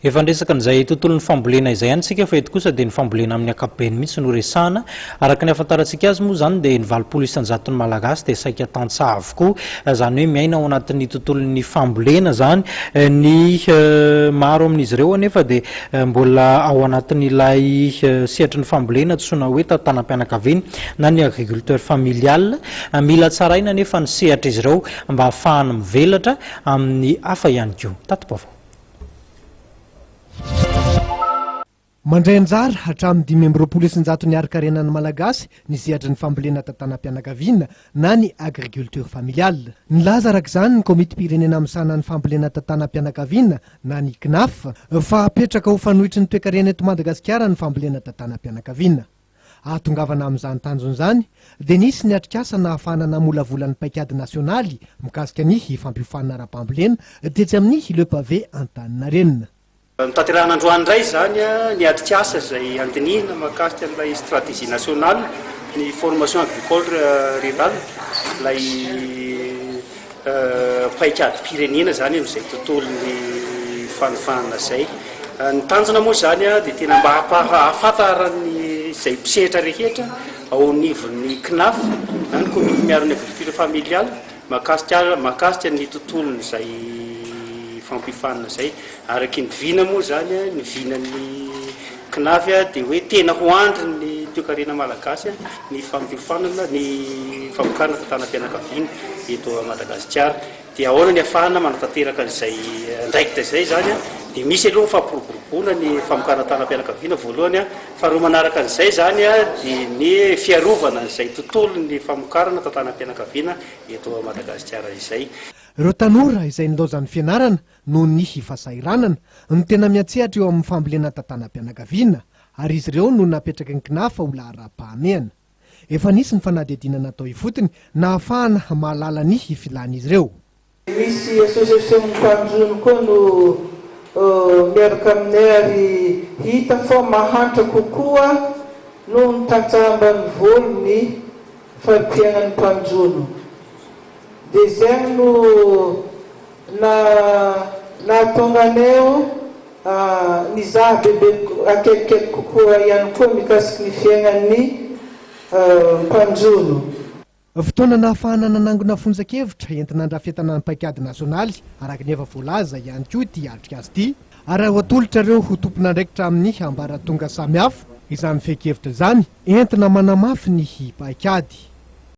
Efa niresaka an'izay tontolon'ny fambolena izay ihany isika fa eto kosa dia ny fambolena amin'ny ankapobeny mihitsy no resahana. Araka ny ahafantarantsika azy moa izany dia ny valopolo isan-jaton'ny Malagasy dia saika tantsaha avokoa, izany hoe miaina ao anatin'ny tontolon'ny fambolena izany. Ny maro amin'izy ireo anefa dia mbola ao anatin'ilay sehatry ny fambolena antsoina hoe tantanam-pianakaviana na ny agriculteur familial. Mila tsaraina anefa ny sehatr'izy ireo mba hahafahany mivelatra amin'ny hafa ihany koa. Tati-baovao. Mandray anjara hatramin'ny dimy amby roapolo isanjato ny harikarenan'ny Malagasy ny sehatry ny fambolena tantanam-pianakaviana na ny agriculture familiale. Nilaza araka izany ny Komitim-pirenena misahana ny fambolena tantanam-pianakaviana na ny CNAF fa hapetraka ho fanoitry ny toekarena eto Madagasikara ny fambolena tantanam-pianakaviana. Hahatongavana amin'izany tanjona izany dia nisy ny atrikasa nahafahana namolavola ny paikady nasionaly mikasika ny fampiofanana ara-pambolena tetsy amin'ny Le Pavé Antaninarenina. Notanterahina androany indray izany ny atrikasa izay handinihina mahakasika an'ilay Stratégie nationale ny Formation agricole rurale, ilay. paikadim-pirenena izany amin'izay tontolon'ny fanofanana izay. Ny tanjona moa izany dia tena mba hampahafantaran'ny izay mpisehatra rehetra ao anivon'ny CNAF, na ny Comité Miaro ny Agriculture Familiale, mahakasika mahakasika ny tontolon'izay fampifanana izay. Araky ny vina moa izany, ny vinan'ny. Kinavy dia hoe tena ho andry ny toekarena malagasy ny fampiofanana ny famokarana tantanam-pianakaviana eto Madagasikara. Dia ahoana ny afahana manatanteraka an'izay andraikitra izay izany? Dia misy aloha ny fampiroboroboana ny famokarana tantanam-pianakaviana voalohany, faharoa manaraka an'izay izany dia ny fiarovana an'izay tontolon'ny famokarana tantanam-pianakaviana eto Madagasikara izay. Ireo tanora izay nilaozan'ny fianarana noho ny hifasahiranana, no tena miantsehatra eo amin'ny fambolena tantanam-pianakaviana, ary izy ireo no napetraky ny Cnafa ho laharam-pahamehana. Efa nisy ny fanadihadiana natao ifotony nahafahana mahalala ny filan'izy ireo. Misy association-n'ny mpanjono koa no miaraka aminay ary hita fa mahantra kokoa noho ny tantsaha ambanivolo ny fari-piainan'ny mpanjono. Dia izay no. Na nahatonga anay ho nizaha bebe akaikikaiky kokoa ihany koa mikasiky ny fiainan'ny mpanjono. Fotoana nahafahana nanangona fonjan-kevitra entina handrafetana ny paikady nasionaly araka ny efa voalaza ihany koa ity atrikasa ity ary aho atolotra ireo ho tompon'andraikitra amin'ny ambaratonga samihafa izany fehin-kevitra izany entina manamafy ny paikady.